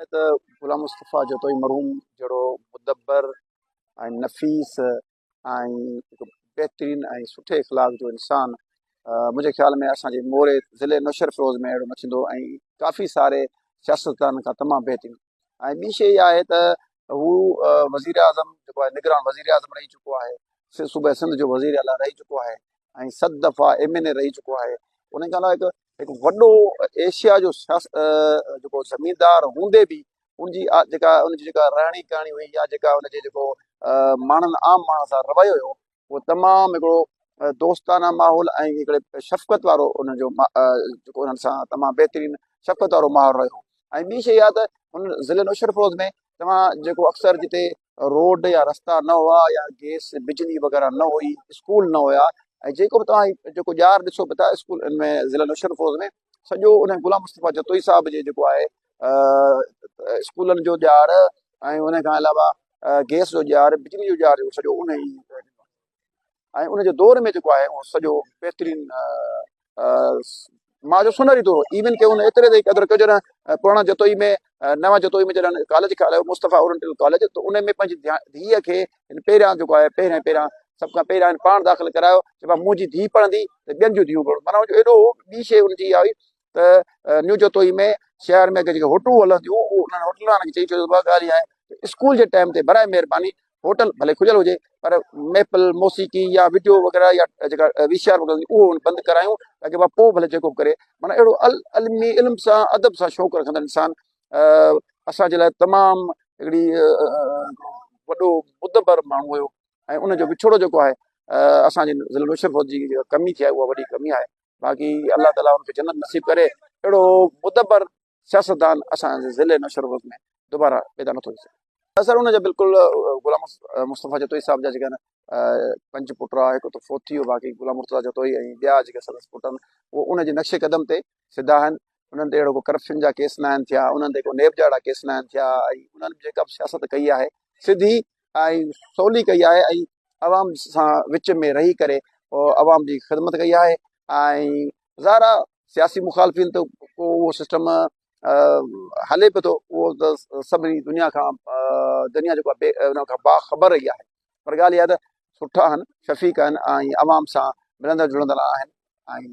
ائين ته غلام مصطفيٰ جتوئي مرحوم جهڙو مدبر ۽ نفيس ۽ هڪ بهترين ۽ سٺي اخلاق جو انسان منهنجي خيال ۾ اسان جي موري ضلعي نوشهر فيروز ۾ اهڙو نه ٿيندو ۽ ڪافي ساري سياستدانن کان تمام بهترين ۽ ٻي شيء اها آهي ته هو وزير اعظم جيڪو آهي نگران وزير اعظم رهي چڪو آهي صوبه سنڌ جو وزير اعليٰ رهي چڪو آهي ۽ ست دفعا ايم اين اي رهي چڪو آهي ان کان علاوه هڪ وڏو ايشيا جو جيڪو زميندار هوندي به ان جي جيڪا ان جي جيڪا رهڻي ڪهڻي هئي يا جيڪا ان جي جيڪو ماڻهن عام ماڻهن سان رويو هيو اهو تمام هڪڙو دوستانه ماحول ۽ هڪڙي شفقت وارو ان جو جيڪو انهن سان تمام بهترين شفقت وارو ماحول رهيو ۽ ٻي شيء اها ته هن ضلعي نوشهرو فيروز ۾ توهان جيڪو اڪثر جتي روڊ يا رستا نه هئا يا گيس بجلي وغيره نه هئي اسڪول نه هيا ۽ جيڪو به توهان جيڪو ڄار ڏسو به ٿا اسڪول ان ۾ ضلع نوشهر فوز ۾ سڄو ان غلام مصطفيٰ جتوئي صاحب جي جيڪو آهي اسڪولن جو ڄار ۽ ان کان علاوه گيس جو ڄار بجلي جو ڄار سڄو ان ۽ ان جي دور ۾ جيڪو آهي اهو سڄو بهترين ماء جو سونهري دور هو ايون ڪي ان ايتري تائين قدر ڪيو جڏهن پراڻا جتوئي ۾ نوا جتوئي ۾ جڏهن ڪاليج کي هلايو مصطفيٰ اورنٽل ڪاليج ته ان ۾ پنهنجي ڌيء کي هن پهريان جيڪو آهي پهريان پهريان سڀ کان پهريان هن پاڻ داخل ڪرايو چيو منهنجي ڌيء پڙهندي ته ٻين جون ڌيون پڙهن مانا ايڏو ٻي شي ان جي آئي ته نيو جتوئي ۾ شهر ۾ جيڪي هوٽلون هلنديون انهن هوٽل وارن کي چئي ڇڏيو ته ٻه ڳالهيون آهن اسڪول جي ٽائيم تي برائي مهرباني هوٽل ڀلي کليل هجي پر ميپل موسيقي يا وڊيو وغيره يا جيڪا وي سي آر وغيره هوندي اهو بند ڪرايون تاڪي مان پوء ڀلي جيڪو به ڪري معنيٰ اهڙو العلمي علم سان ادب سان شوق رکندڙ انسان اسان جي لاء تمام هڪڙي وڏو مدبر ماڻهو هيو ۽ ان جو وڇوڙو جيڪو آهي اسانجي ضلع نوشهروفت جي ڪمي ٿي آهي اها وڏي ڪمي آهي باقي الله تعاليٰ ان کي جنت نصيب ڪري اهڙو مدبر سياستدان اسان جي ضلعي نوشهروغ ۾ دوباره پيدا نٿو ٿي سگهي اثر ان جا بلڪل غلام مصطفيٰ جتوئي صاحب جا جيڪي آهن پنج پٽ هئا هڪ ته فوت ٿي ويو باقي غلام مرتضا جتوئي ۽ ٻيا جيڪي سندس پٽ آهن اهو ان جي نقش قدم تي سڌا آهن انهن تي اهڙو ڪو ڪرپشن جا ڪيس نه آهن ٿيا انهن تي ڪو نيب جا اهڙا ڪيس نه آهن ٿيا ۽ انهن جيڪا به سياست ڪئي آهي سڌي ۽ سولي ڪئي آهي ۽ عوام سان وچ ۾ رهي ڪري عوام جي خدمت ڪئي آهي ۽ ظاهر آهي سياسي مخالفين ته ڪو اهو سسٽم هلي پيو ٿو اهو ته سڀني دنيا کان دنيا جيڪو بي ان کان باخبر رهي آهي پر ڳالهه اها ته سٺا آهن شفيق آهن ۽ عوام سان ملندڙ جلندڙ آهن ۽